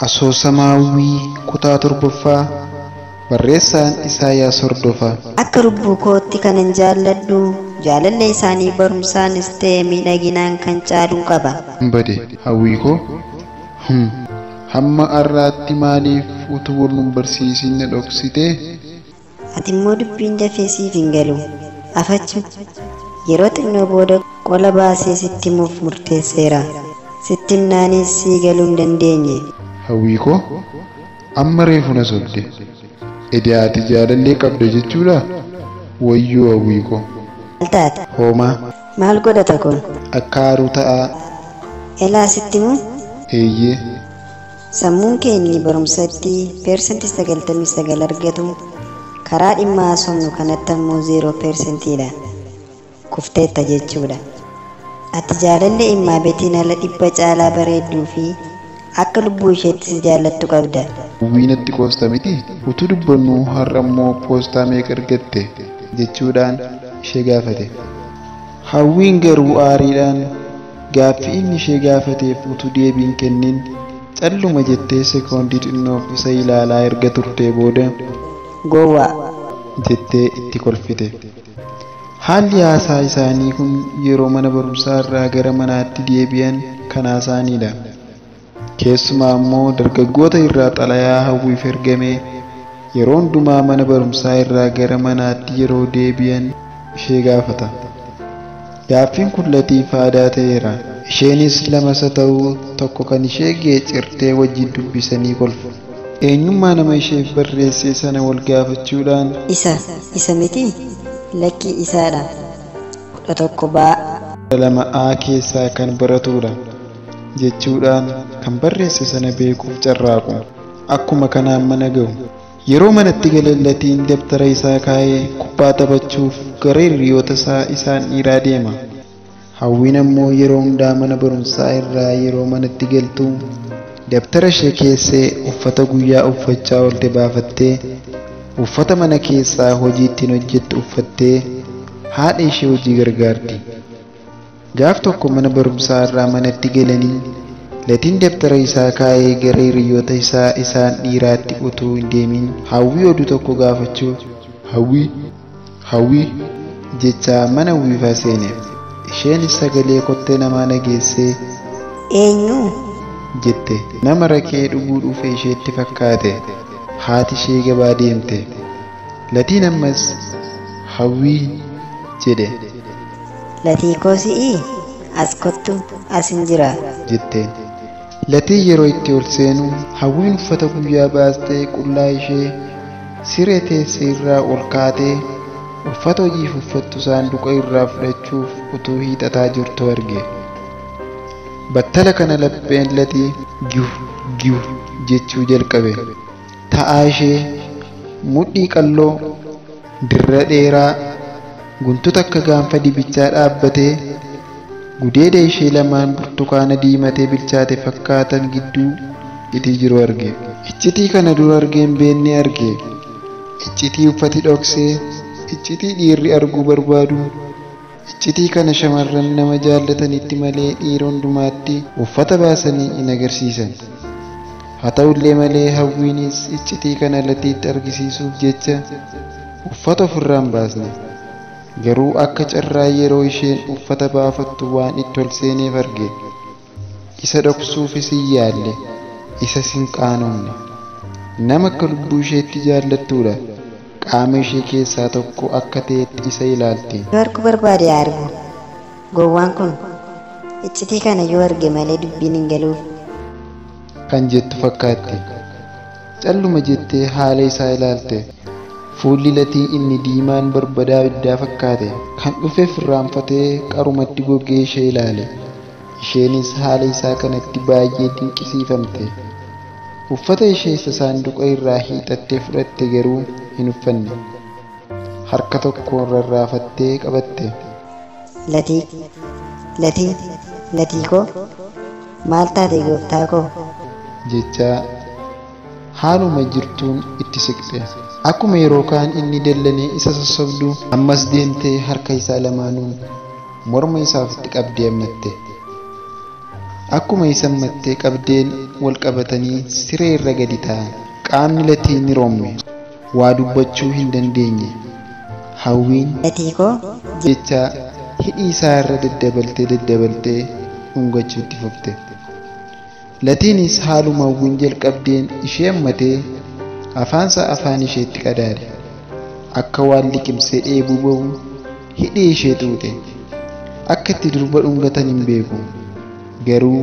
Asoosama Hawwii kutaa torbaffaa barreessaan Isaayaas Hordofa. Akka lubbuu kootti kanan jaalladhu jaalallee isaanii barumsaanis ta'e miidhaginaan kan caalu qaba. Hin bade hawwii koo hum hamma har'aatti maaliif utuu wal nun barsiisin na dhoksitee? Ati immoo dubbiin dafee siif hin galu. Afachu, Yeroo xinnoo booda qola baasee sitti himuuf murteesseera. Sitti himnaanis sii galuu hin dandeenye. Hawwii koo, Amma reefu na sobde. Edaa ati jaalallee qabda jechuudhaa? Wayyoo Hawwii koo! Maal taate? Hoomaa. Maal godhata kun? Akka aaru ta'aa. Elaa sitti himuu? Eeyyee. Sammuun kee inni barumsatti percent 99 argatu karaa dhimma haasofnu kanatti ammoo 0 percent dha. Kufteetta jechuudha. Ati jaalallee Immaabetiin ala dhibba caalaa bareedduu fi akka lubbuu isheetti si jaallattu qabda. Wwii natti qoosta miti utuu dubbannuu har'a immoo poostaa meeqa argatte? jechuudhaan ishee gaafate. Hawwiin garuu aariidhaan Gaaffii inni ishee gaafateef utuu deebii hin kennin calluma jettee sekoondii xinnoof isa ilaalaa erga turtee booda. Gowwaa! jettee itti kolfite. Haalli haasaa isaanii kun yeroo mana barumsaa irraa gara manaatti deebi'an kan haasaaniidha. Keessumaa ammoo dargaggoota irraa xalayaa hawwiif ergame yeroo hundumaa mana barumsaa irraa gara manaatti yeroo deebi'an ishee gaafata. Gaaffiin kun Latiif aadaa ta'eera. Isheenis lamasa ta'u tokko kan ishee geecirtee wajjin dubbisanii kolfu. Eenyummaa nama isheef barreessee sana wal gaafachuudhaan. Isa, isa mitii? Lakkii isaadha. 11 baa. 12 A keessaa kan baratuudha. jechuudhaan kan barreesse sana beekuuf carraaqu. Akkuma kanaan mana gahu. Yeroo manatti galeen Latiin dabtara isaa kaa'ee kubbaa taphachuuf gara hiriyoota isaa isaan dhiiraa deema. Hawwiin ammoo yeroo hundaa mana barumsaa irraa yeroo manatti galtu dabtara ishee keessee uffata guyyaa uffachaa oolte baafattee uffata mana keessaa hojii ittiin hojjettu uffattee haadha ishee hojii gargaarti. Gaaf tokko mana barumsaa irraa manatti galanii Latiin dabtara isaa kaa'ee gara hiriyyoota isaa isaan dhiiraatti utuu hin deemin Hawwii oduu tokko gaafachuuf Hawwii! Hawwii! jechaa mana uwwifaa seene. Isheenis sagalee kottee namaa dhageessee Eenyu? jette. Nama raqee dhuguu dhufe isheetti fakkaate. Haati ishee gabaa deemte. Latiin ammas Hawwii! jedhe. Latii koo si'ii as kottu asin jiraa. jetteen. Latiin yeroo itti ol seenu Hawwiin uffata guyyaa baastee qullaa ishee siree teesse irraa ol kaatee uffata hojiif uffattu saanduqa irraa fudhachuuf utuu hiixataa jirtuu arge. Battala kana lapheen Latii giw giw jechuu jalqabe. ta'aa ishee, mudhii qalloo, dirra dheeraa, guntuta akka gaanfa dibichaa dhaabbatee, gudeeda ishee lamaan burtukaana diimatee bilchaate fakkaatan gidduu itii jiru arge. Iccitii kana dura argee hin beenne arge. Iccitii uffati dhoksee, iccitii dhiirri arguu barbaadu. Iccitii kana shamarran nama jaallatanitti malee dhiira hundumaatti uffata baasanii hin agarsiisan. Haa ta'ullee malee Hawwiinis iccitii kana Latiitti argisiisuuf jecha uffata ofirraa hin baasne. Garuu akka carraa yeroo isheen uffata baafattu waan itti ol seeneef arge. Isa dhoksuufis hin yaalle, isas hin qaanofne. Nama akka lubbuu isheetti jaallattuudha. Qaama ishee keessaa tokko akka ta'etti isa ilaalti. Yoo arguu barbaade haa argu. Gowwaan kun iccitii kana yoo arge malee dubbiin hin galuuf. kan jettu fakkaatti. Calluma jettee haala isaa ilaalte. Fuulli latii inni diimaan barbadaa ibiddaa fakkaate. Kan dhufeef irraanfatee qarumatti gogee ishee ilaale. Isheenis haala isaa kanatti baay'ee dinqisiifamte. Uffata ishee isa saanduqa irraa hiixattee fudhatte garuu hin uffanne. Harka tokkoon rarraafattee qabatte. Latii! Latii! Latii koo! Maal taate gooftaa koo? jechaa. Haaluma jirtuun itti siqxe. Akkuma yeroo kaan inni dallanee isa sossobdu, ammas deemtee harka isaa lamaanuun morma isaa ofitti qabdee ammatte. Akkuma isa ammattee qabdeen wal qabatanii siree irra gadi taa'an. Qaamni Latii ni roomme. Waa dubbachuu hin dandeenye. Hawwiin. Latii koo! jechaa hidhii isaa irra daddabaltee daddabaltee dhungachuu itti fufte. Latiinis haaluma Hawwiin jalqabdeen ishee hammatee afaansaa afaan isheetti qadaade. Akka waan liqimsee dheebuu ba'u hidhii ishee xuuxe. Akka itti durba dhungatan hin beeku. Garuu